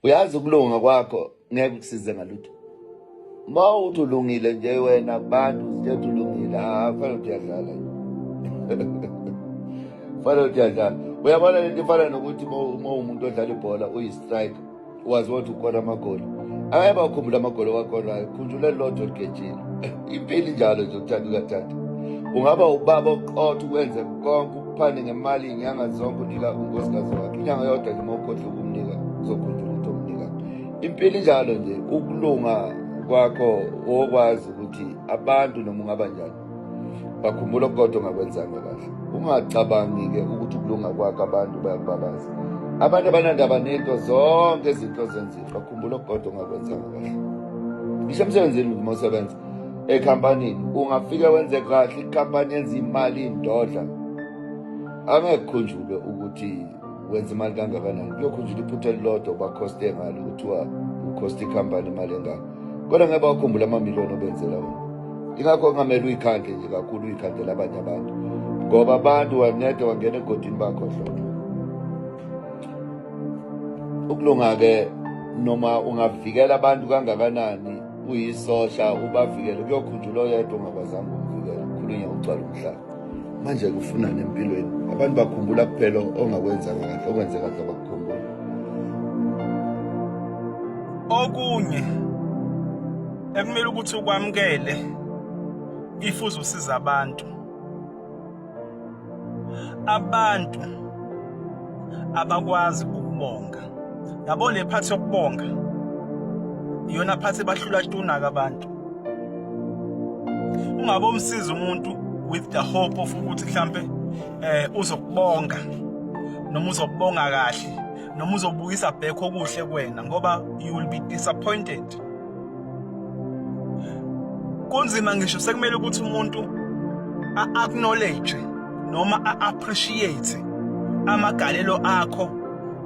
uyazi ukulunga kwakho ngeke kusize ngalutho ma uthi ulungile nje wena kubantu uzithetha ulungile afanele ukuthi uyadlala fanele ukuthi uyadlala uyabona le nto ifana nokuthi uma umuntu odlala ibhola uyi-strike wazi wothi ukhona amagoli angeke bakhumbula amagoli owakonayo khunjula lodwa ligejile impilo injalo nje uthanda ukathatha ungaba ubaba oqotha ukwenze konke phande ngemali inyanga zonke unika unkosikazi wakhe inyanga yodwa nje uma ukhohlwa ukumnika uzokhunjula ukuthi omnika impilo injalo nje ukulunga kwakho wokwazi ukuthi abantu noma ungaba njani bakhumbula okukodwa ongakwenzanga kahle ungacabangi-ke ukuthi ukulunga kwakho abantu bayakubabaza abantu abanandaba nento zonke izinto zenzile bakhumbula okukodwa ongakwenzanga kahle ngisho emsebenzini uma usebenza ekhampanini ungafike wenze kahle ikhampani yenza imali indodla angekhunjulwe ukuthi wenza imali kangakanani kuyokhunjula iphutha elilodwa ubakhoste ngalo kuthiwa ukhosta ikhampani imali engaka kodwa ngeke bakhumbula amamiliyoni obenzela wona ingakho kungamele uyikhandle nje kakhulu uyikhandela abanye abantu ngoba abantu wanede wangena egodini bakho hlolo ukulunga-ke noma ungavikela abantu kangakanani kuyisosha ubavikele kuyokhunjula oyedwa ungakwazanga ukuvikela khulunya ugcwala umhlaba manje kufunani empilweni abantu bakhumbula kuphela ongakwenzanga kahle okwenze kahle bakukhumbula okunye ekumele ukuthi ukwamukele ifuze usiza abantu abantu abakwazi ukubonga yabo le phathi yokubonga iyona phathi bahlula tunaka abantu ungabe umsiza umuntu with the hope of ukuthi mhlambe eh uzokubonga noma uzokubonga kahle noma uzobuyisa back okuhle kwena ngoba you will be disappointed kunzima ngisho sekumele ukuthi umuntu a-acknowledge noma a-appreciate amagalelo akho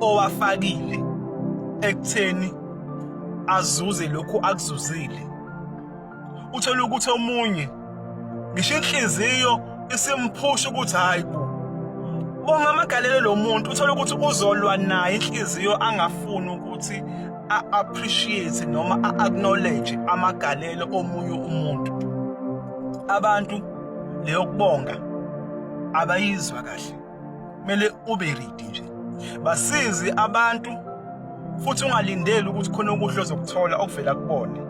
owafakile ekutheni azuze lokhu akuzuzile uthola ukuthi omunye ngisho inhliziyo isimphusha ukuthi hayi bo ungamagalelo lo muntu uthole ukuthi uzolwa naye inhliziyo angafuni ukuthi a-appreciate noma a-acknowledge amagalelo omunye umuntu abantu leyokubonga abayizwa kahle kumele ube ready nje basizi abantu futhi ungalindeli ukuthi khona okuhle ozokuthola okuvela kubona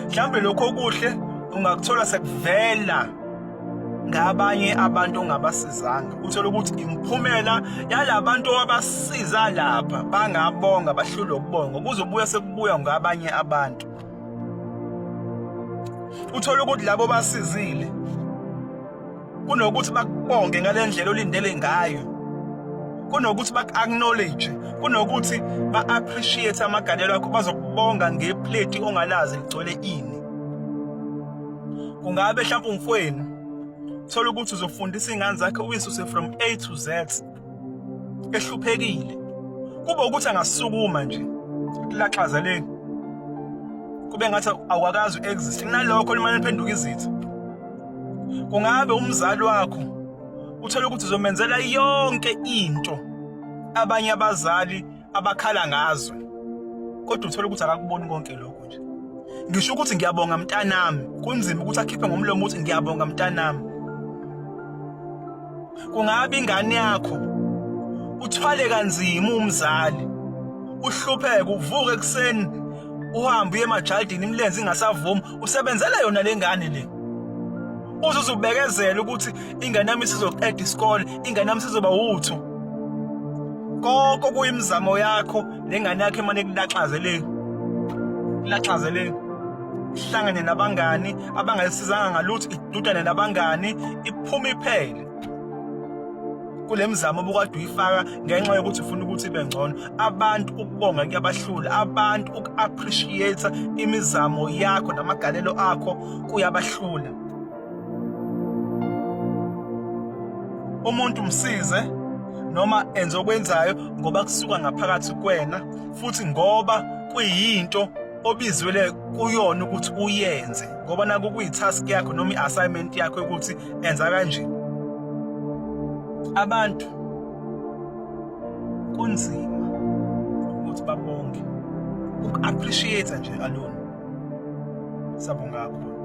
mhlawumbe lokho okuhle ungakuthola sekuvela ngabanye abantu ongabasizanga uthole ukuthi imphumela yalabantu abasiza lapha bangabonga bahlule ukubonga kuzobuya sekubuya ngabanye abantu uthole ukuthi labo basizile kunokuthi bakubonge ngale ndlela olindele ngayo kunokuthi baku-acknowledge kunokuthi ba-appreciate amagalelo akho bazokubonga ngepleti ongalazi ligcwele ini kungabe mhlawumpe umfwenu thola ukuthi uzofundisa iy'ngane zakhe uyisuse from a to z ehluphekile kube ukuthi angasukuma nje laxaza le kube ngathi awakazi uexist kunalokho limane liphenduka izitha kungabe umzali wakho uthola ukuthi uzomenzela yonke into abanye abazali abakhala ngazo kodwa uthole ukuthi akakuboni konke lokho nje ngisho ukuthi ngiyabonga mntanami kunzima ukuthi akhiphe ngomlomo ukuthi ngiyabonga mntanami kungabe ingane yakho uthwale kanzima umzali uhlupheke uvuke ekuseni uhambe uye emajaldini imilenze ingasavumi usebenzela yona le ngane le uzuze ubekezela ukuthi ingane yami isizoqeda isikole ingane yami sizoba wuthu konke kuyimizamo yakho lengane yakhe emane kulaxazeleni kulaxazeleni ihlangane nabangani abangayisizanga ngalutho idudane nabangani iphuma iphele kule mizamo obukade uyifaka ngenxa yokuthi ufuna ukuthi ibe ngcono abantu ukubonga kuyabahlula abantu uku-appreciate imizamo yakho namagalelo akho kuyabahlula umuntu msize noma enze okwenzayo ngoba kusuka ngaphakathi kwena futhi ngoba kuyinto obizwele kuyona ukuthi uyenze ngoba naku kuyitask yakho noma i-assignment yakho ukuthi enza kanje abantu kunzima ukuthi babonge uku-appreciate-a nje alone sabonga kakhulu